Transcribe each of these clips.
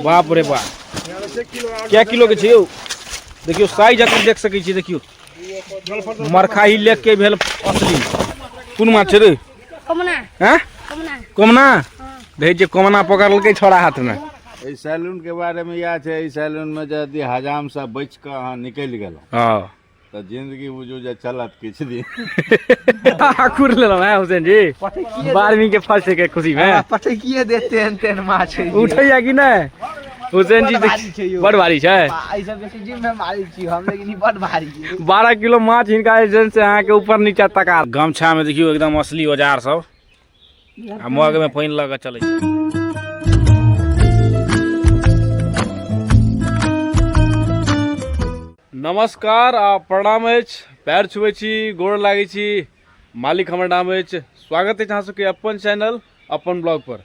बाप रे बाप कए किलोके छै यौ देखियौ साइज अगर देख सकै छियै देखियौ मरखाही लेक के भेल असली कोन माछ छै रे हैं कोमना देखै छियै कोमना पकड़लकै छोड़ा हाथमे एहि सैलूनके बारेमे इएह छै एहि सैलूनमे यदि हजामसँ बचि कऽ अहाँ निकलि गेलहुँ हँ तऽ जिंदगी बुझू जे चलत किछु दिन कुर लेलहुँ हैं हुसैन जी बारहवीं के फर्स्ट के खुशी में पटे किए दे तेन तेन माछ है उठैया कि नहि हुसैन जी बड़ भारी छै यौ। बड़ भारी छै ई सब बेसी जिम में मारै छी हम लेकिन ई बड भारी है बारह किलो माछ हिनका एजेंट से अहाँके ऊपर नीचा तका गमछा में देखियो एकदम असली औजार सब आ मग में पानि लऽ कऽ चलै छै नमस्कार आ प्रणाम अछि पैर छुबै छी गोड़ लागै छी मालिक हमर नाम अछि स्वागत अछि अहाँ सबके अपन चैनल अपन ब्लॉग पर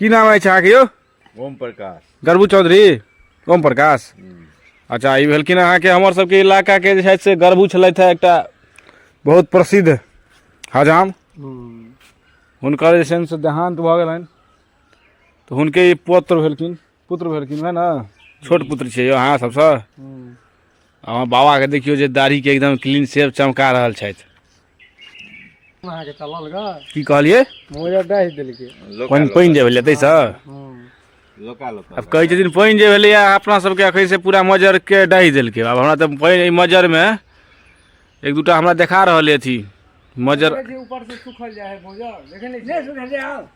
की नाम अछि अहाँके यौ ओम प्रकाश गर्बू चौधरी ओम प्रकाश अच्छा ई भेलखिन अहाँके हमर सबके इलाकाके जे छथि से गर्बू छलथि हे एकटा बहुत प्रसिद्ध हजाम हुनकर जे छनि से देहान्त भऽ गेलनि तऽ हुनके ई पुत्र भेलखिन पुत्र भेलखिन है ने छोट पुत्र छियै यौ अहाँ सबसँ अहाँ बाबाके देखियौ जे दाढ़ीके एकदम क्लीन सेव चमका रहल छथि अहाँके चलल ग की कहलियै मोजा डाहि देलकै पानि पानि जे भेलै ताहिसँ लोका लोका आब कहै छथिन पानि जे भेलैए अपना सबके एखन से पूरा मजरके डाहि देलकै आब हमरा तऽ पानि एहि मजरमे एक दूटा हमरा देखा रहल अइ अथी मजर ऊपर से सुखल जाए है मोजा देखे नहीं सुखल जाए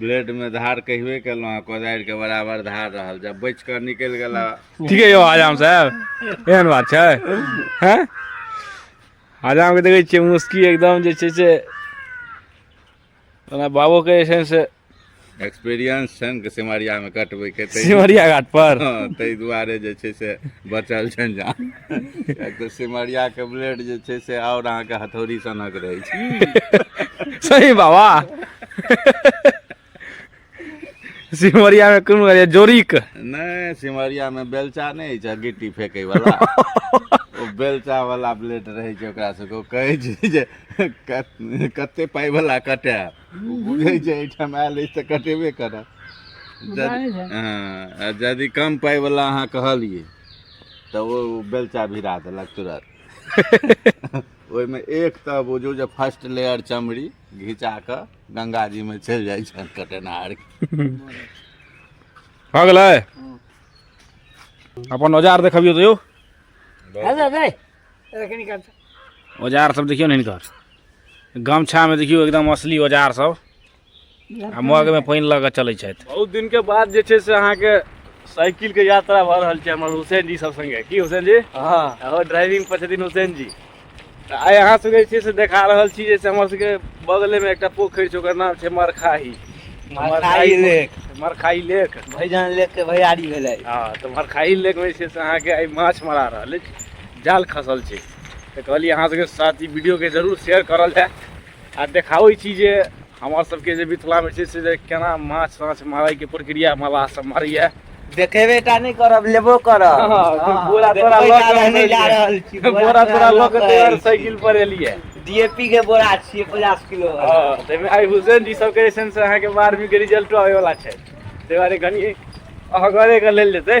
ब्लेड में धार कहबे केलहुँ हँ कोदारि के बराबर धार रहल जब बच कर निकल गला ठीके यौ आजाम साहब एहन बात छै हैं आजाम के देखै छियै मुस्की एकदम जे छै से ओना बाबो के जे छै से एक्सपीरियंस छनि के सिमरिया में कटबै के सिमरिया घाट पर ताहि दुआरे जे छै से बचल छनि जान किएक तऽ सिमरियाके ब्लेड जे छै से आओर अहाँके हथौड़ी सनक रहै छै सही बाबा सिमरिया में कोन कहलियै जोड़ीक नहि सिमरियामे बेलचा नहि होइ छै गिट्टी फेकैवला ओ बेलचावला ब्लेड रहै छै ओकरा सबके ओ कहै छै जे कत- कते पाइवला कटे ओ बुझै छै एहिठाम आयल अछि तऽ कटेबे करत जानै यदि छै। हँ, आ यदि कम पाइवला अहाँ कहलियै तऽ ओ बेलचा भिरा देलक तुरत ओहिमे एक तऽ बुझू जे फर्स्ट लेयर चमड़ी घिचा कऽ गङ्गाजीमे चलि जाइ छनि कटेनहार भऽ गेलै अपन औजार देखबियौ तऽ यौ औजार सब देखियौ ने हिनकर गमछामे देखियौ एकदम असली औजार सब आ मगमे पानि लऽ कऽ चलै छथि बहुत दिनके बाद जे छै से अहाँके साइकिलके यात्रा भऽ रहल छै हमर हुसैन जी सब सङ्गे की हुसैन जी हँ आओर ड्राइविंग पर छथिन हुसैन जी तऽ आइ अहाँ सबके जे छै से देखा रहल छी जे हमर सबके बगलेमे एकटा पोखरि छै ओकर नाम छै मरखाही मरखाही लेक मरखाही लेक भैजान लेक के भैयारी भेलै हँ तऽ मरखाही लेकमे जे छै से अहाँके आइ माछ मरा रहल अछि जाल खसल छै तऽ कहलियै अहाँ सबके साथ ई वीडियोके जरूर शेयर करल जाय आ देखाबै छी जे हमर सबके जे मिथिलामे छै से जे केना माछ ताछ मारैके प्रक्रिया मलाह सब मारैए देखेबे टा नहि करब लेबो करब हँ, हँ, बोरा तोरा देखबै लऽ टा के रहने हम जा एलियै। रहल छी बोरा तोरा लऽ के तैयार साइकिल पर एलियै डीएपी के बोरा छियै पचास किलो वाला। हँ, ताहिमे आइ हुसैन जी सबके जे छनि से अहाँके बारहवींके रिजल्टो आबैवला छै ताहि दुआरे कनि अहगरेके लेल जेतै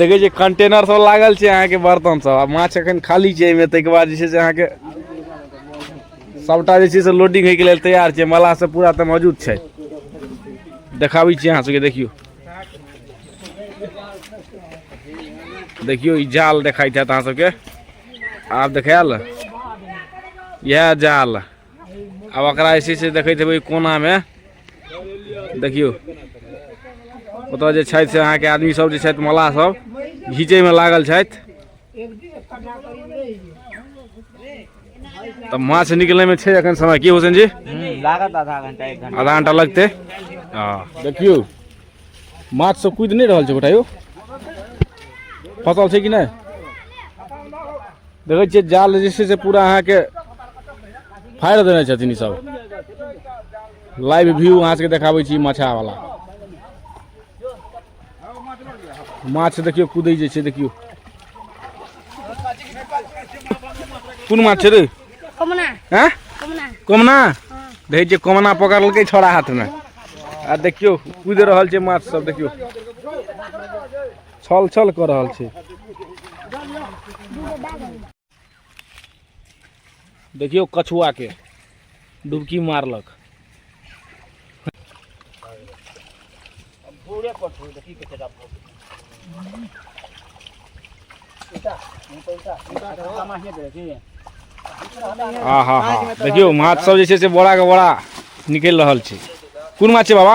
देखै छियै कंटेनर सब लागल छै अहाँके बर्तन सब आ माछ एखन खाली छै एहिमे ताहिके बाद जे छै से अहाँके सबटा जे छै से लोडिंग होइके लेल तैयार छै मलाह सब पूरा तऽ मौजूद छै देखाबै छी अहाँ सबके देखियौ देखियौ ई जाल देखाइत हैत अहाँ सबके आब देखायल इएह जाल आब ओकरा जे छै से देखैत हेबै कोनामे देखियौ ओतऽ जे छथि से अहाँके आदमी सब जे छथि मल्लाह सब घीचैमे लागल छथि तऽ माछ निकलैमे छै एखन समय की हुसैन जी लागत आधा घंटा एक घंटा आधा घंटा लगतै हँ देखियौ माछ सब कुदि नहि रहल छै गोटा यौ फसल छै कि नहि देखै छियै जाल जे छै से पूरा अहाँके फाड़ि देने छथिन ईसभ लाइव व्यू अहाँ सभके देखाबै छी माछावला माछ देखियौ कूदै जे छै देखियौ कोन माछ छै रे हँ कोमना देखै छियै कोमना पकड़लकै छोड़ा हाथमे आ देखियौ कूदि रहल छै माछ सब देखियौ छल छल कऽ रहल छै देखियौ कछुआके डुबकी मारलक आ हा हा देखियौ माछ सब जे छै से बोरा के बोरा निकलि रहल छै कोन माछ छै बाबा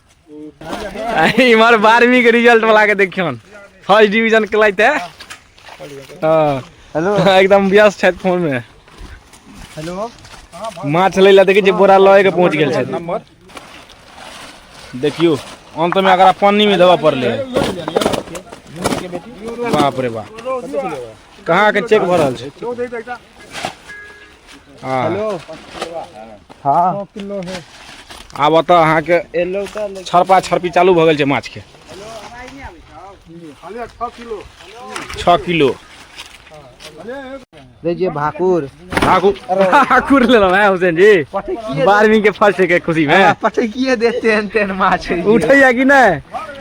इमहर बारहवीं के रिजल्ट वाला के देखियन फर्स्ट डिवीजन के लाइते हाँ हेलो एकदम व्यस्त छथि फोन में हेलो माछ लै लए देखै छियै बोरा लए के पहुँच गेल छथि नंबर देखियो अंत में अगर पानी में देबऽ पड़ले बाप रे बाप कहाँ के चेक भऽ रहल छै हाँ। हेलो हाँ किलो है आब ओतऽ अहाँके एलो तऽ छरपा छरपी चालू भऽ गेल छै माछके छओ किलो दै छियै भाकुर भाकुर भाकुर लेलहुँ है हुसैन जी बारहवीं के फर्स्ट के खुशी में पटकिए देते हैं तेन माछ उठैया कि नहि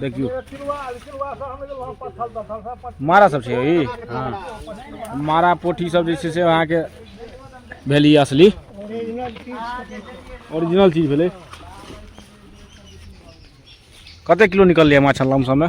देखियो मारा सब छै ई हाँ मारा पोठी सब जे छै से अहाँके भेल ई असली ओरिजिनल चीज भेलै कते किलो निकललै माछ लमसममे